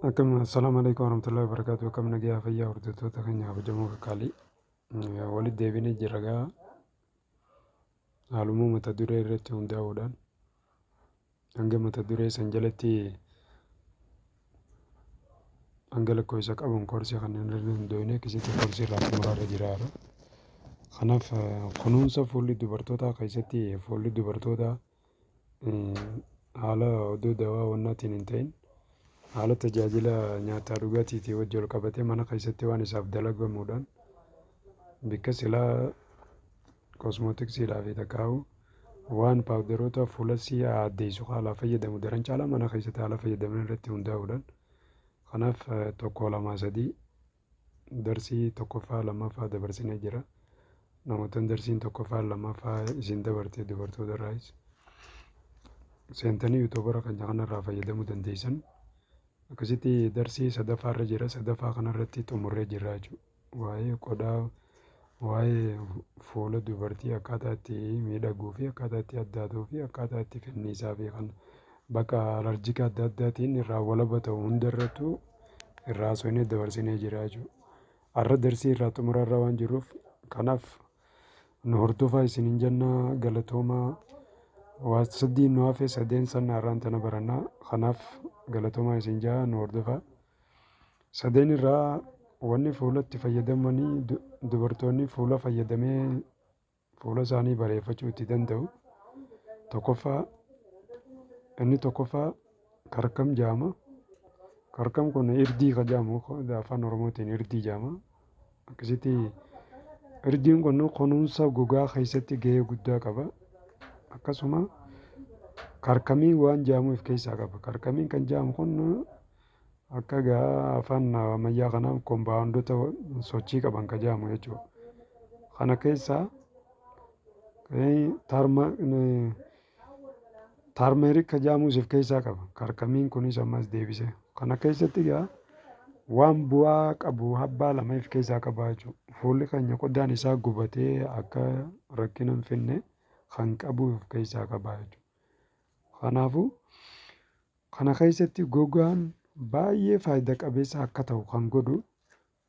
Akkam assalaamu alaikum warahmatullahi wabarakatuh akkam nagaa fayyaa hordoftoota keenya kabajamoo kakkaalii walitti deebinee jirra gaa haaluma mata duree irratti hundaa'uudhaan hanga mata duree san jalatti hanga lakkoofsa qabuun koorsii kan hin dandeenye akkasitti koorsii irraa xumuraa irra jira kanaaf kunuunsa fuulli dubartootaa keessatti fuulli dubartootaa haala oduu dawaa wannaatiin hin ta'in haala tajaajila nyaataa dhugaatiitii wajji wal qabatee mana keessatti waan isaaf dalagamuudhaan bakka silaa kosmootiksiidhaa fi takkaa'u waan paawudaroota fuulasii addeessu haalaa fayyadamu daran caalaa mana keessatti haala fayyadamni irratti hundaa'uudhaan kanaaf tokko lamaa sadii Darsii tokkoffaa lammaffaa dabarsinee jira. Namoottan darsiin tokkoffaa lammaffaa isin dabarte dubartoota irraayis seentanii yuutuubara keenya kanarraa fayyadamuu dandeessan. Akkasitti darsii sadaffaa irra jira. Sadaffaa kanarratti xumurree jirra jechuudha. Waa'ee qodaa Waa'ee fuula dubartii akkaataa itti miidhaguu fi akkaataa itti addaatuu fi akkaataa itti finniisaa fi kan bakka alarjika adda addaatiin irraa walaba ta'u hunda irrattuu irraa haasofnee dabarsinee jirra jechuudha. Har'a darsii irraa xumura irra waan jirruuf kanaaf nu hordofaa isiniin jenna galatoomaa. Waa sadii nu hafe sadeen san har'aan tana baranna kanaaf galatoomaa isin jedha nu hordofaa. Sadeen irraa wanni fuulatti fayyadamanii dubartoonni fuula fayyadamee fuula isaanii bareeffachuu itti danda'u tokkoffaa inni tokkoffaa karkam jaama karkam kun irdii ka jaamu afaan oromootiin irdii jaama akkasitti irdiin kun kunuunsa gogaa keessatti gahee guddaa qaba akkasuma karkamii waan jaamu of keessaa qaba karkamiin kan jaamu kun Akka egaa afaan ammayyaa kanaan kombaawundota sochii qaban ka jedhamu jechuudha. Kana keessaa taarmeerik ka jedhamus of keessaa qaba. Karkamiin kunis ammas deebisee. Kana keessatti egaa waan bu'aa qabu habbaa lama of keessaa qaba jechuudha. Fuulli keenya qodaan isaa gubatee akka rakkina hin finne kan qabu of keessaa qaba jechuudha. Kanaafuu Kana keessatti gogaan baay'ee faayida qabeessa akka ta'u kan godhu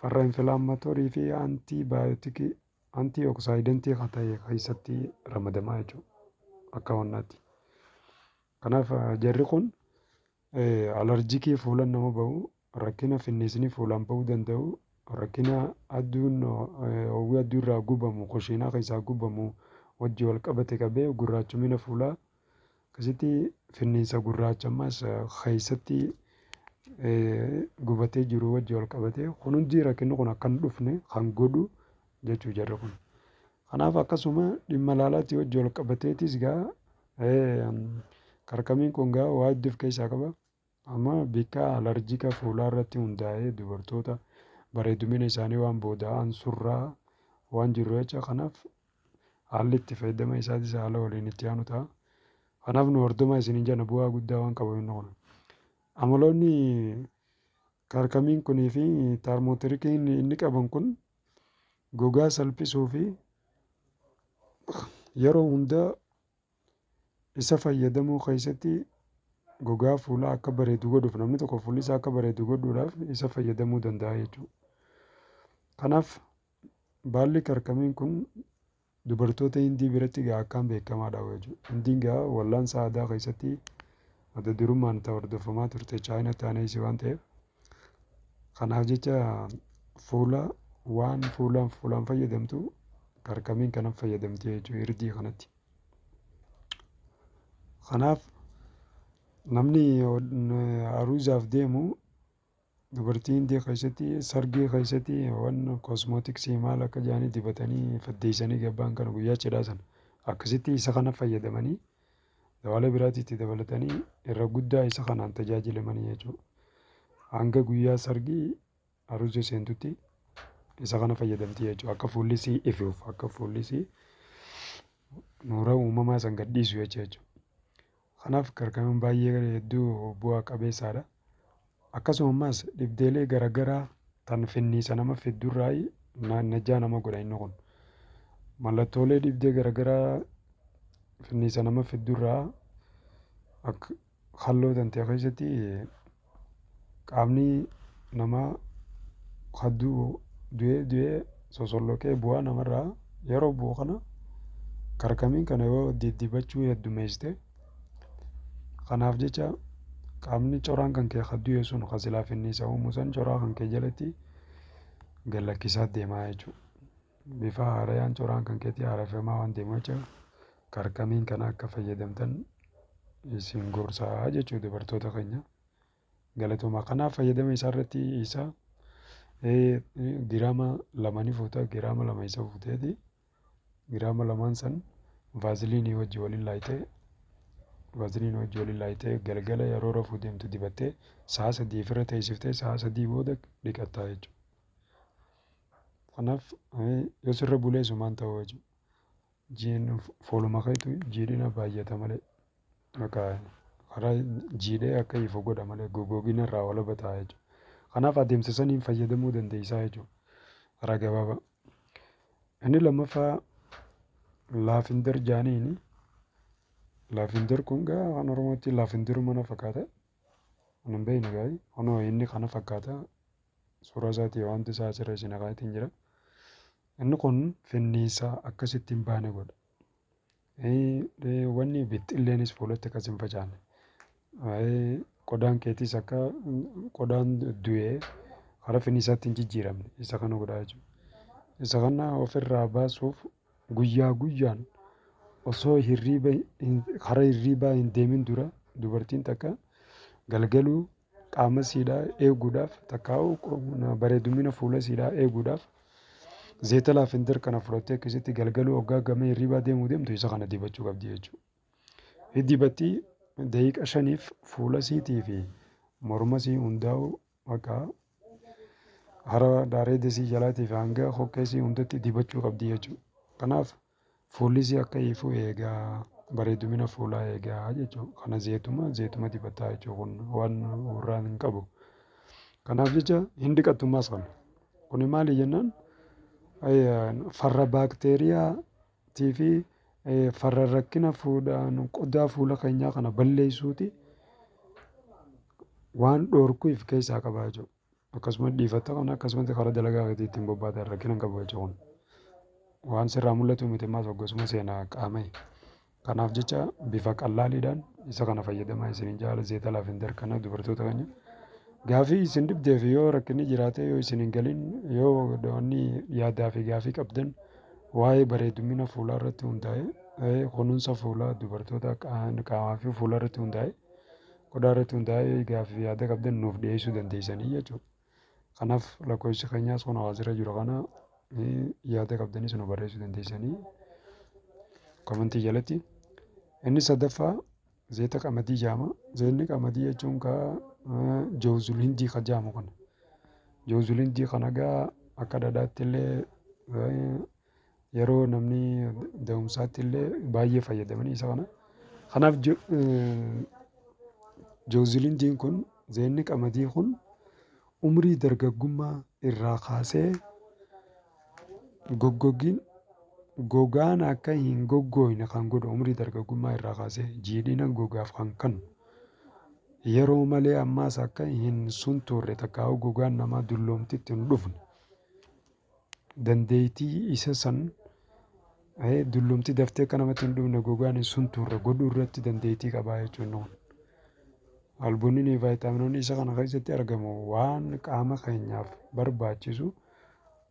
farra infilaammatoorii fi antii baayootikii antii oksaayidantii kan ta'e keessatti ramadamaa jechuudha akka wannaatti. Kanaaf jarri kun alarjikii fuula nama ba'u Rakkina finniisni fuulaan ba'uu danda'u, rakkina adduun hawwii adduu irraa gubamu, koshiinaa keessaa gubamu wajji wal qabate qabee gurraachumina fuulaa akkasitti finniinsa gurraacha ammas keessatti gubatee jiru wajji wal qabate kun hundi rakkinni kun akka hin dhufne kan godhu jechuu jarri kun. Kanaaf akkasuma dhimma laalaatti wajji wal qabateetis gaa karkamiin kun gaa waa hedduu of keessaa qaba. Amma bikka alarjika fuulaa irratti hundaa'ee dubartoota bareedumina isaanii waan booda'aan surraa waan jirru jecha kanaaf haalli itti fayyadama isaatis haala waliin itti aanu ta'a. Kanaaf nu hordomaa isiniin jenna bu'aa guddaa waan qabu inni kun. Amaloonni kaarkamiin kunii fi taarmootirikiin inni qaban kun gogaa salphisuu fi yeroo hundaa Isa fayyadamuu keessatti gogaa fuulaa akka bareedu godhuuf namni tokko fuulli isaa akka bareedu godhuudhaaf isa fayyadamuu danda'a jechuudha. Kanaaf baalli karkamiin kun dubartoota Hindii biratti egaa akkaan beekamaadha jechuudha. Hindiin egaa wallaansa aadaa keessatti adda durummaan itti hordofamaa turte Chaayinaa taanee isii waan ta'eef Kanaaf jecha fuula waan fuulaan fuulaan fayyadamtu karkamiin kanan fayyadamti jechuudha irdii kanatti. Kanaaf namni aruuzaaf deemu dubartii hindii keessatti sargii keessatti waan kosmootiksii maal akka jedhanii dibatanii faddeessanii gabbaan kana guyyaa cidhaa sana akkasitti isa kana fayyadamanii Dawaalee biraas itti dabalatanii irra guddaa isa kanaan tajaajilamanii jechuudha. Hanga guyyaa sargii aruuza seentutti isa kana fayyadamti jechuudha. Akka fuulli sii ifuuf akka fuulli sii nuura uumamaa san gadhiisu jechuudha. Kanaaf karkanuun baay'ee hedduu bu'aa qabeessaadha. Akkasumamas dhibdeelee garagaraa tan finniisa nama fiddu irraayi najjaa nama godha inni kun. Mallattoolee dhibdee garagaraa finniisa nama fiddu irraa ak halloo tantee keessatti qaamni namaa kan du'u du'ee du'ee sosolloqee bu'aa namarraa yeroo bu'u kana karkamiin kana yoo diddibachuu heddumeessite Kanaaf jecha qaamni coraan kan kee kan du'e sun kan silaa finniisa uumu san coraa kan kee jalatti gad lakkisaa deemaa jechuudha. Bifa haarayaan coraan kan keetii haareffamaa waan deemu jecha karkamiin kana akka fayyadamtan isin gorsaa jechuu dubartoota keenya. Galatoma kanaa fayyadama isaa irratti isa giraama lama ni fuuta giraama lama isa fuuteeti giraama lamaan san vaaziliinii wajji waliin laayitee vaaziliinii wajji waliin laayitee galgala yeroo rafuu deemtu dibattee sa'a sadii ofirra teessiftee sa'a sadii booda dhiqattaa jechuudha. Kanaaf yoo sirra bulee sumaan ta'uu jechuudha. Jiin fooluma keetu jiidhina baay'ata malee yookaan karaa jiidhee akka ifu godha malee gogoogina irraa walaba ta'a jechuudha. Kanaaf adeemsa saniin fayyadamuu dandeessaa jechuudha. Karaa gabaabaa. Inni lammaffaa laafinder jaaniini. Laafinder kun gaa afaan Oromootti laafindiruma na fakkaata. Kan hin beekne gaarii. Kunoo inni kana fakkaata. Suuraa isaatii waanti isaa asirra isin akaatiin jira. Inni kun finniisaa akkasitti hin baane godha. Wanni bixxilleenis fuulatti akkas hin facaane. Qodaan keetis akka qodaan du'ee karaa finniisaatti hin jijjiiramne isa kana godhaa jechuudha. Isa kana ofirraa baasuuf guyyaa guyyaan osoo hirriiba karaa hirriibaa hin deemin dura dubartiin takka galgaluu qaama isiidhaa eeguudhaaf takkaa'u bareedumina fuula isiidhaa eeguudhaaf zeeta laafindir kana fudhattee akkasitti galgaluu hoggaa gamee hirribaa deemuu deemtu isa kana dibachuu qabdi jechuudha. Dibatti daqiiqa shaniif fuula isiitii fi morma isii hundaa'u bakka hara daareeda isii jalaatii fi hanga hokkee isii hundatti dibachuu qabdi jechuudha. Kanaaf Fuullisii akka ifu eegaa. Bareedumina fuulaa eegaa jechuudha. Kana zeetuma zeetuma dibataa jechuudha kun waan urraan hin qabu. Kanaaf jecha hin dhiqattummaas kana. Kuni maali jennaan farra baakteeriyaa tii fi farra rakkina fuudhaan qodaa fuula keenyaa kana balleessuuti waan dhoorkuuf keessaa qabaa jechuudha. Akkasumatti dhiifatta kana akkasumatti karaa dalagaa keetii ittiin bobbaata rakkina hin qabu jecha kun. Waan sirraa mul'atu miti ammaas hoggasuma seena qaama'e. Kanaaf jecha bifa qallaaliidhaan isa kana fayyadamaa isiniin jaala zeeta laafender kana dubartoota keenya. Gaafii isin dhibdeef yoo rakkinni jiraate yoo isin hin galin yoo wanni yaadaa fi gaafii qabdan waa'ee bareedumina fuulaa irratti hundaa'e kunuunsa fuulaa dubartoota qaamaa fi fuulaa irratti hundaa'e Qodaa irratti hundaa'ee gaaffii fi yaada qabdan nuuf dhiyeessuu dandeessanii jechuudha. Kanaaf lakkoofsi keenyaas kun hawaasirra jiru kana yaada qabdanis nu barreessuu dandeessanii komentii jalatti. Inni sadaffaa zeeta qamadii jaama. Zeenni qamadii jechuun kaa joozul hindii ka jaamu kana. Joozul hindii kana gaa akka dhadhaatti illee Yeroo namni da'umsaatti illee baay'ee fayyadamanii isa kana. Kanaaf jooziliinjiin kun zeenni qamadii kun umrii dargaggummaa irraa kaasee goggogiin gogaan akka hin goggooyne kan godhu umrii dargaggummaa irraa kaasee jiidhina gogaaf kan kennu yeroo malee ammaas akka hin suntuurre takkaa'uu gogaan namaa dulloomtitti hin dhufne dandeeytii isa san eh, dullumti daftee akka namatti hin dhumne gogaan hin suntuurre godhuu irratti dandeeytii qabaa jechuun kun. Albuuninii vaayitaaminoonni isa kana keessatti argamu waan qaama keenyaaf barbaachisu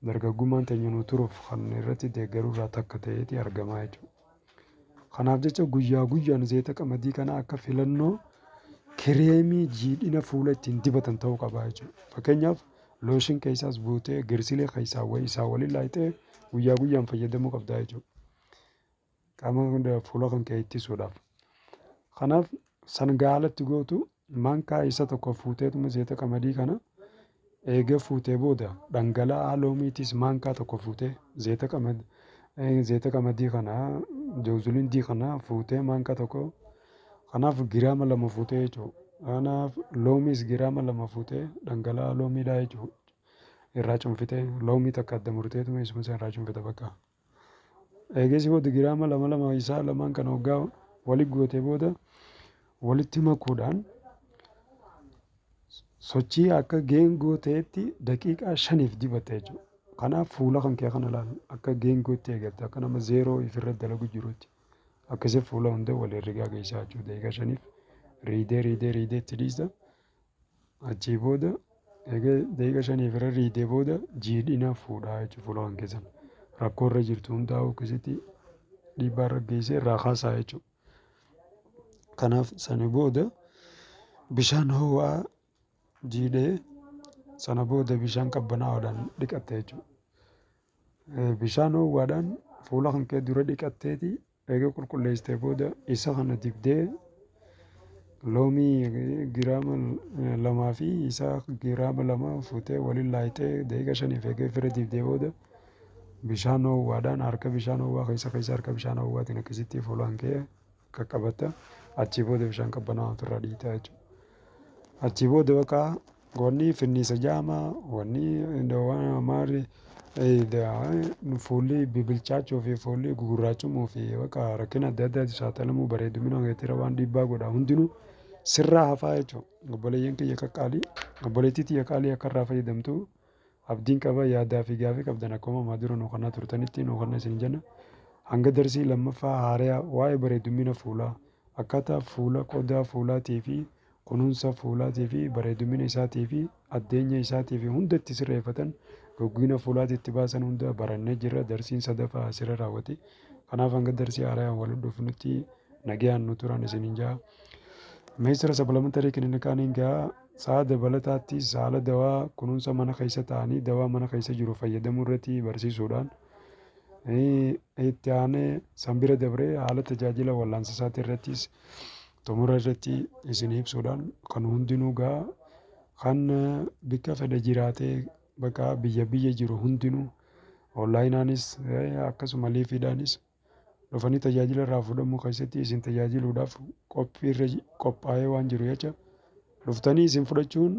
dargaggummaan teenya nu turuuf kan irratti deeggaru irraa takka ta'eeti argamaa jechuudha. Kanaaf jecha guyyaa guyyaan zayita qamadii kana akka filannoo kireemii jiidhina fuula ittiin dibatan ta'uu qaba jechuudha. Fakkeenyaaf looshin keessaas buutee girsilee keessaa wa- isaa waliin laayixee guyyaa guyyaan fayyadamuu qabda jechuudha. Qaama hunda fuula kan kee ittisuudhaaf. Kanaaf san gaalatti gootu Maankaa isa tokko fuuteetuma zeeta qamadii kana eega fuutee booda dhangala'aa loomiitiis maankaa tokko fuutee zeeta qamad eh, zeeta qamadii kana jawzuliin dii kana fuutee maankaa tokko kanaaf giraama lama fuutee jechuudha. Kanaaf loomiis giraama lama fuutee dhangala'aa loomiidhaa jechuudha. Irraa cunfitee loomii takka adda murteetuma isuma san irraa cunfita bakka. Eegasii booda giraama lama lama isaa lamaan kana hoggaa wali gootee booda walitti makuudhaan sochii akka geengoo ta'etti daqiiqaa shaniif dibatta jechuudha. Kanaaf fuula kan kee kana laal akka geengootti eegatta akka nama zeeroo ifirra dalagu jirutti akkasii fuula hunda wal herregaa geessaa jechuudha daqiiqaa shaniif riidee riidee riidee itti dhiista. Achii booda eega daqiiqa shaniif irra riidee booda jiidhina fuudhaa jechuudha fuula kan keessan. Rakkoo irra jirtu hundaa akkasitti dhiibbaa irra geessee irraa kaasaa jechuudha. Kanaaf sani booda bishaan ho'aa jiidhee sana booda bishaan qabbanaa'aadhaan dhiqatta jechuudha. Bishaan ho'aadhaan fuula kan kee dura dhiqatteeti Eega qulqulleessitee booda isa kana dibdee loomii giraama lamaa fi isa giraama lama fuutee waliin laayitee daqiiqa shaniif eegee fira dibdee booda bishaan ho'uwaadhaan harka bishaan ho'uwaa keessa keessa harka bishaan ho'uwaatiin akkasitti fuulaan kee qaqqabatta achii booda bishaan qabbanaa'aa ofirraa dhiitaa jechuudha. Achii booda bakka Goonni finniisa jaama, wanni waan maarri fuulli bibilchaachuu fi fuulli gugurraachumuu fi bakka rakkina adda addaatti saaxilamuu bareedumina keetiirra waan dhiibbaa godha hundinuu sirraa hafaa jechuudha. Obboleeyyan kiyya qaqqaalii, obboleettii tiyya qaalii akka irraa fayyadamtu abdiin qaba yaadaa fi gaafii qabdan akkuma ammaa dura nu kannaa turtanitti nu kanna isin jenna. Hanga darsii lammaffaa haarayaa waa'ee bareedumina fuulaa akkaataa fuula qodaa fuulaatii fi kunuunsa fuulaatii fi bareedumina isaatii fi addeenya isaatii fi hunda itti sirreeffatan gogguina fuulaati itti baasan hunda barannee jirra darsiin sadafa asira raawwate kanaaf hanga darsii haarayaan wal dhufnutti nagayaan nu turan isinin ja'a meesira sablamatarii kininikaaniin ga'a sa'a dabalataatti saala dawaa kunuunsa mana keessa ta'anii dawaa mana keessa jiru fayyadamuu irratti barsiisuudhaan itti aanee sanbira dabree haala tajaajila wallaansa isaatii irrattis Xumura irratti isinii ibsuudhaan kan hundinuu gaa kan bikka fedhe jiraatee bakka biyya biyya jiru hundinuu onlaayinaanis akkasuma liifiidhaanis dhufanii tajaajila irraa fuudhamuu keessatti isin tajaajiluudhaaf qophii irra qophaa'ee waan jiru jecha dhuftanii isin fudhachuun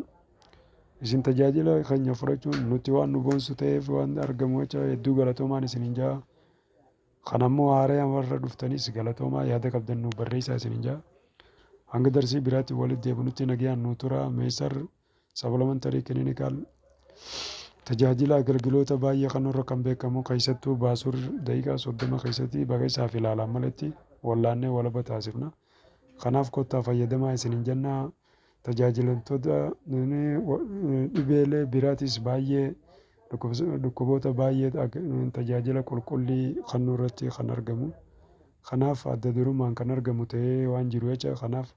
isin tajaajila keenya fudhachuun nutti waan nu boonsu ta'eef waan argamu jecha hedduu galatoomaan isiniin ja'a. Kan ammoo haaraya warra dhuftanis galatoomaa yaada qabdan nuuf barreessaa isinin ja'a. Hanga darsii biraatti walit deebinutti nagayaan nuu turaa Meysar Supplementary Clinical tajaajila agalgiloota baay'ee kannuurra kan beekamu keessattuu baasur daqiiqaa 30 keessatti baga isaaf ilaalaan maletti wallaannee walaba taasifna. Kanaaf kottaa fayyadamaa isinin jennaa. tajaajilamtoota dhibeelee biraatis baay'ee dhukkuboota baay'ee tajaajila qulqullii kennuu irratti kan argamu. Kanaaf adda durummaan kan argamu ta'ee waan jiru jecha kanaaf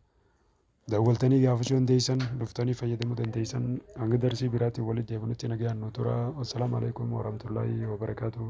daawwaltanii gaafachuu dandeessan dhuftanii fayyadamuu dandeessan hanga darsii biraatti walitti deebinutti nagaan nu tura. Assalaamu alaikum warahmatullahi wabarakatuh.